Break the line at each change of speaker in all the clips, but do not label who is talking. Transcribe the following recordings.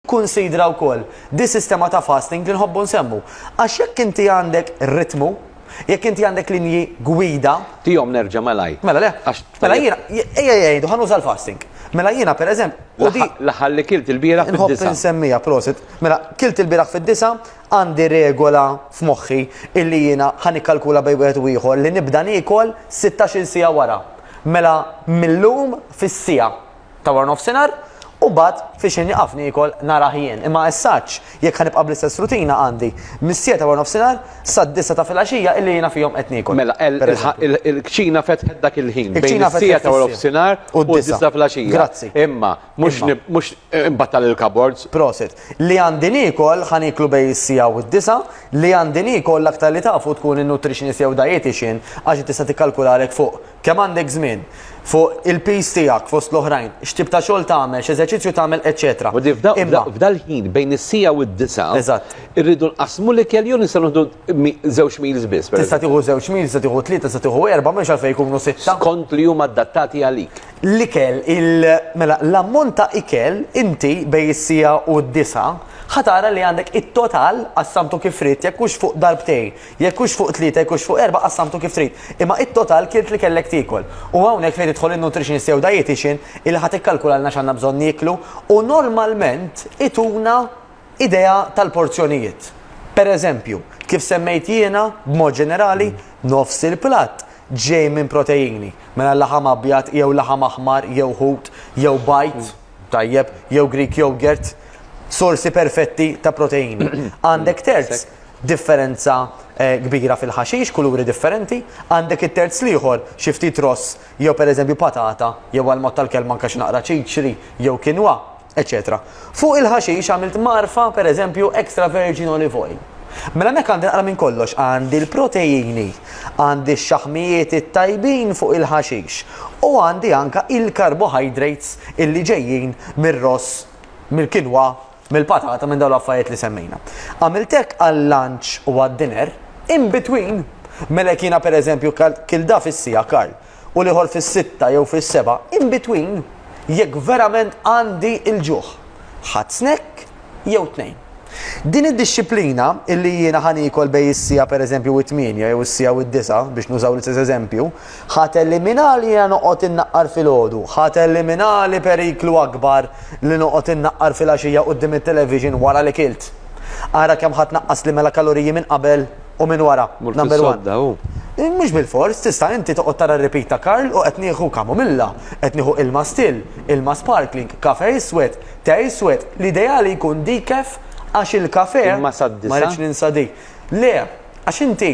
Kunsidra wkoll di sistema ta' fasting li nħobbu nsemmu. Għax jekk inti għandek ritmu, jekk inti għandek linji gwida, Tihom nerġa'
malajr. Mela le, Għax mela
jiena, ejja jgħidu ħa nuża l-fasting. Mela jiena pereżemp, u di l-aħħar- l-aħħar li kilt
il-bieraħ nħobb fid-disgħa. insemmija,
prosit. Mela, kilt il-bieraħ fid-disgħa, għandi regola f'moħħi illi jiena ħa nikkalkula bejn wieħed u ieħor li nibda niekol sittax-il siegħa wara. Mela mil-lum fis-siegħa. ta' wara nofsinhar u bad fi xejn jaqaf niekol nhar aħjien imma essaċ jekk ħa nibqa' bl-istess rutina għandi mis-siegħa ta' wara nofsinhar sad-disgħa ta' filgħaxija illi jiena fihom qed niekol. Mela
il-kċina fetħet dak il-ħin bejn is-siegħa ta' wara nofsinhar u d-disgħa ta' filgħaxija. Grazzi. Imma
mhux
mhux imbattal il-cupboards. Prosit. Li
għandi niekol ħa nieklu bejn is-siegħa u d-disgħa, li għandi niekol l-aktar li tafu tkun in-nutritionist jew dietician għax hi tista' tikkalkulalek fuq Kemm għandek żmien? Fuq il-piż tiegħek fost l-oħrajn, x'tip ta' xogħol tagħmel, x'eżerċizzju tagħmel, eċċetera. Ġifieri f'da, f'da, f'dal
ħin bejn is-siegħa u d-disgħa. Eżatt. Irridu
nqassmu
l-ikel jew nistgħu nieħdu mi, żewġ meals biss, per. Tista' tieħu żewġ meals, tista'
tieħu tlieta, tista' tieħu erbgħa, m'hemmx għalfejn ikunu sitta. Skont li huma adattati
għalik. L-ikel, il,
mela, l-ammont ta' ikel inti bejn is-siegħa u d-disgħa ħa tara li għandek it-total qassamtu kif ridt jekk hux fuq darbtejn. Jekk hux fuq tlieta jkunx fuq erbgħa qassamtu kif trid, imma it-total kilt li kellek tiekol. U hawnhekk fejn tidħol in-nutritionist jew dietician illi ħa tikkalkulalna x'għandna bżonn nieklu u normalment ituna idea tal-porzjonijiet. Per eżempju, kif semmejt jiena, b'mod ġenerali, nofs il-platt ġej minn proteini, mela laħam abjad jew laħam aħmar jew ħut jew bajd, tajjeb, jew Greek yogurt, sorsi perfetti ta' proteini. Għandek terz differenza kbira fil-ħaxix, kuluri differenti, għandek it-terz l-ieħor xi ftit ross jew pereżempju patata jew għall-mod tal-kelma anke xi naqra ċiċri jew kinwa, eċċetera Fuq il-ħaxix għamilt mgħarfa pereżempju extra virgin olive oil. Mela hemmhekk għandi naqra minn kollox, għandi l-proteini, għandi x-xaħmijiet it-tajbin fuq il-ħaxix u għandi anke il-carbohydrates illi ġejjin mir-ross, mill-kinwa mill-patata minn dawn l-affarijiet li semmejna. Għamilt hekk għal-lunch u għad-dinner, in between. Mela jekk jiena pereżempju kilt da fis-siegħa Karl u l-ieħor fis-sitta jew fis-sebgħa, in between, jekk verament għandi l-ġuħ, ħadt snack jew tnejn. Din id-dixxiplina illi jiena ħa niekol bejn is-siegħa pereżempju u t-tmienja jew is-siegħa u d-disgħa, biex nużaw l-istess eżempju, Ħa teliminali jiena noqgħod innaqqar filgħodu, ħa teliminali periklu akbar li noqgħod innaqqar filgħaxija quddiem it-television wara li kilt. Ara kemm ħa tnaqqasli mela kaloriji minn qabel u minn wara, number one. Mhux bilfors, tista' inti toqgħod tara r-repeat ta' Karl u qed nieħu kamomilla, qed nieħu ilma still, ilma sparkling, kafè iswed, te iswed, l-ideali jkun decaf għax il-kafè, ma rridx ninsa dik. Le, għax inti,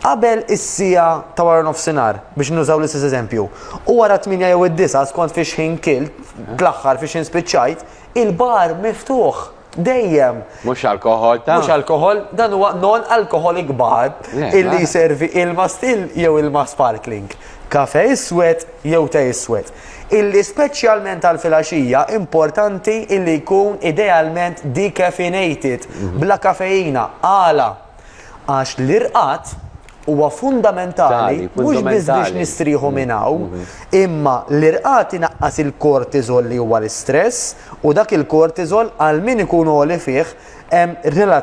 qabel is-siegħa ta' wara nofsinhar, biex nużaw l-istess eżempju, u wara t-tmienja jew id-disgħa skont fiex ħin kilt, l-aħħar fiex ħin spiċċajt, il-bar miftuħ. Dejjem. Mhux alkoħol
ta'. Mhux alkoħol, dan huwa
non-alcoholic bar illi jservi ilma still jew ilma sparkling, kafe iswed jew te iswed. illi speċjalment għall-filgħaxija importanti illi jkun idealment decaffeinated, bla kafeina. Għala? Għax l-irqad huwa fundamentali mhux biss biex nistrieħu minn hawn, imma l-irqad inaqqas il-cortisol li huwa l-istress u dak il-cortisol għal min ikun għoli fih hemm relazzjoni.